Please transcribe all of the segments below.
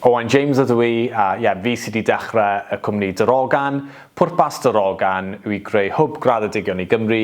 Owain James ydw i a ie, fi sy 'di dechre y cwmni Darogan. Pwrpas Darogan yw i greu hwb graddedigion i Gymru,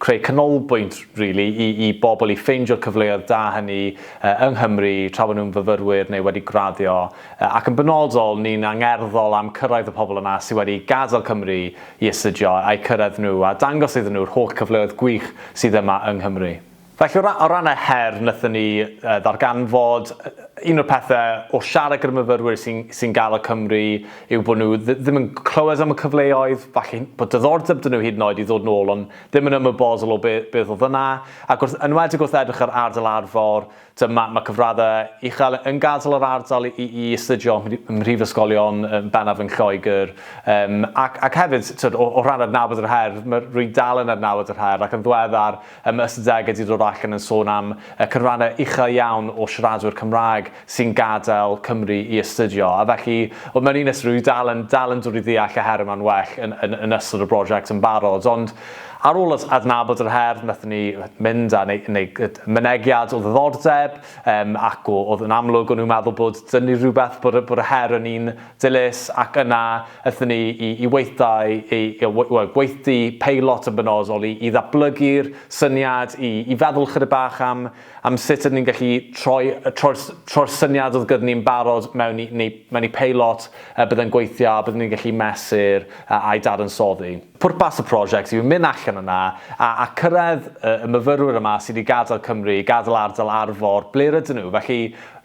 creu canolbwynt rili i i bobl i ffeindio'r cyfleoedd da hynny yng Nghymru tra bod nhw'n fyfyrwyr neu wedi graddio ac yn benodol ni'n angerddol am cyrraedd y pobl yna sy wedi gadael Cymru i astudio a'u cyrraedd nhw a dangos iddyn nhw'r holl cyfleoedd gwych sydd yma yng Nghymru. Felly o ran y her wnaethon ni ddarganfod, un o'r pethe wrth siarad gyda myfyrwyr sy'n gael o Cymru yw bod nhw ddim yn clywed am y cyfleoedd, falle bod diddordeb 'da nhw hyd yn oed i ddod nôl ond ddim yn ymwybodol o beth oedd yna ac wrth, yn enwedig wrth edrych ar ardal Arfor, t'mod mae cyfraddau uchel yn gadael yr ardal i astudio ym mhrifysgolion yn bennaf yn Lloegr ac hefyd t'mod o ran adnabod yr her, rwy'n dal yn adnabod yr her ac yn ddiweddar Ym mis Dec y dudwyd allan yn sôn am y cynrannau uchel iawn o siaradwyr Cymraeg sy'n gadael Cymru i astudio, a felly, wel, mewn un ystyr, rwyf i dal yn, dal yn dod i ddeall y her yma'n well yn, yn, yn ystod y brosiect yn barod. Ond ar ôl ad, adnabod yr her, wnaethon ni mynd â neu, neu, mynegiad o ddiddordeb, um, ac o, oedd yn amlwg o'n nhw'n meddwl bod dynnu rhywbeth bod, bod y her yn un Dilys ac yna aethon ni i i weithdai i i we- wel gweithdy peilot yn benodol i i ddatblygu'r syniad i i feddwl chydig bach am am sut ydyn ni'n gallu troi y troi'r s- troi'r syniad oedd gyda ni'n barod mewn i neu mewn i peilot yy byddai'n gweithio a byddwn ni'n gallu mesur a a'i dadansoddi. Pwrpas y prosiect yw mynd allan yna a a cyrraedd y y myfyrwyr yma sydd wedi gadael Cymru i gadael ardal Arfor, ble rydyn nhw? Felly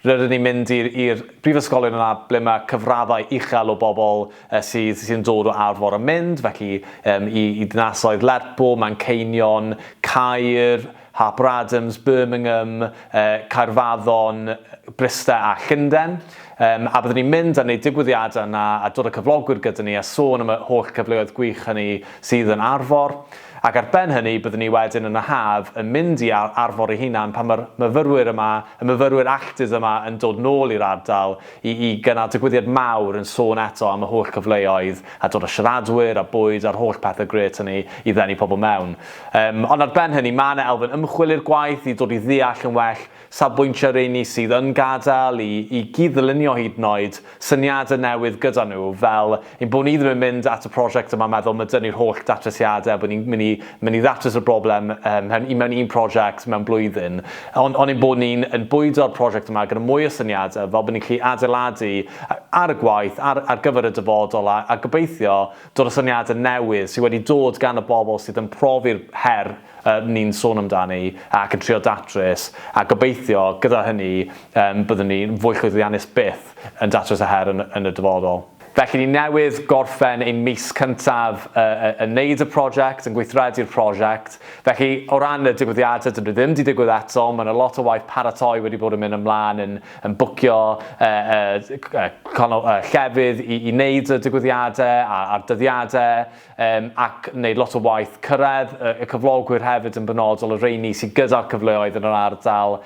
rydyn ni'n mynd i'r i'r brifysgolion yna ble mae cyfraddau uchel o bobl yy sydd sydd yn dod o Arfor yn mynd, felly yym i i dinasoedd Lerpwl, Manceinion, Caer, Harper Adams, Birmingham, Caerfaddon, Bryste a Llundain. A byddwn ni'n mynd a wneud digwyddiadau yna a dod â cyflogwyr gyda ni a sôn am y holl gyfleoedd gwych hynny sydd yn Arfor. Ac ar ben hynny, byddwn ni wedyn yn y haf yn mynd i Arfor ei hunan pan mae'r myfyrwyr yma, y myfyrwyr alltud yma yn dod nôl i'r ardal i i gynnal digwyddiad mawr yn sôn eto am y holl gyfleoedd a dod â siaradwyr a bwyd a'r holl pethau grêt hynny i ddenu pobl mewn. Yym, ond ar ben hynny, mae yna elfen ymchwil i'r gwaith i dod i ddeall yn well safbwyntiau rheini sydd yn gadael, i i gyd-ddylunio hyd yn oed syniadau newydd gyda nhw, fel ein bod ni ddim yn mynd at y prosiect yma meddwl 'ma dynnu'r holl datrysiadau a bod ni'n mynd i mynd i ddatrys y broblem yym mewn un mewn un prosiect mewn blwyddyn, ond ond ein bod ni'n yn bwydo'r prosiect yma gyda mwy o syniadau fel bod ni'n gallu adeiladu ar y gwaith ar ar gyfer y dyfodol a a gobeithio Dyna syniadau newydd sydd wedi dod gan y bobl sydd yn profi'r her rŷn ni'n sôn amdani ac yn trio datrys, a gobeithio, gyda hynny, byddwn ni'n fwy llwyddiannus byth yn datrys y her yn y dyfodol. Felly, ni newydd gorffen ein mis cyntaf yn wneud y prosiect, yn gweithredu'r prosiect. Felly, o ran y digwyddiadau, dydyn nhw ddim wedi digwydd eto, mae yna lot o waith paratoi wedi bod yn mynd ymlaen yn yn bwcio llefydd i wneud y digwyddiadau a'r dyddiadau ac yn gwneud lot o waith cyrraedd y cyflogwyr hefyd yn benodol, y rheini sydd gyda'r cyfleoedd yn yr ardal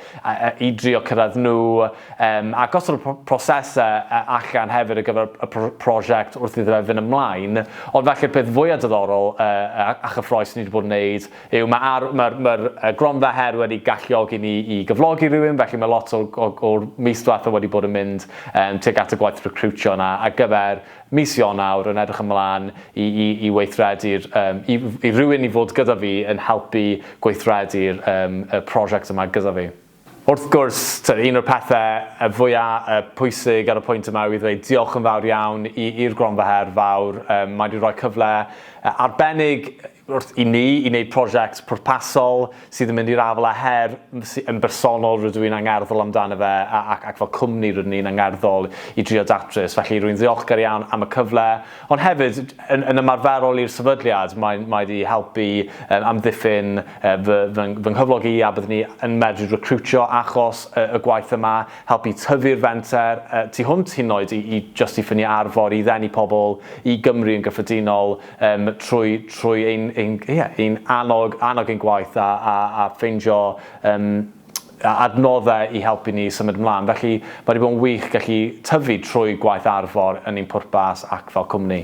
i drio cyrraedd nhw a gosod y prosesau allan hefyd ar gyfer y prosiect wrth iddo fe fynd ymlaen. Ond falle peth fwya' diddorol a chyffrous ni wedi bod yn wneud yw mae ar, mae'r, mae'r gronfa her wedi galluogi ni i gyflogi rhywun, felly mae lot o, o, o'r mis diwetha wedi bod yn mynd um, tuag at y gwaith recrwtio yna ar gyfer mis Ionawr yn edrych ymlaen i, i, i weithredu'r, um, i, i rhywun i fod gyda fi yn helpu gweithredu'r um, y prosiect yma gyda fi. Wrth gwrs, tibod, un o'r pethau yy fwya' yy pwysig ar y pwynt yma yw i ddweud diolch yn fawr iawn i i'r Gronfa Her Fawr, yym mae 'di rhoi cyfle yy arbennig wrth i ni i wneud prosiect pwrpasol sydd yn mynd i'r afael â her sy- yn bersonol rydw i'n angerddol amdano fe a ac ac fel cwmni rydyn ni'n angerddol i drio datrys. Felly rwy'n ddiolchgar iawn am y cyfle Ond hefyd, yn, yn ymarferol i'r sefydliad, mae, mae wedi helpu um, amddiffyn uh, fy, fy, fy nghyflog i a byddwn ni yn medru recrwtio achos uh, y gwaith yma, helpu tyfu'r fenter uh, tu hwnt hyn oed i, i just i ffynu arfor i ddenu pobl i Gymru yn gyffredinol um, trwy, trwy ein, ein, yeah, ein annog, annog ein gwaith a, a, a ffeindio um, a adnoddau i helpu ni i symud ymlaen. Felly, mae wedi bod yn wych gallu tyfu trwy gwaith Arfor yn ein pwrpas ac fel cwmni.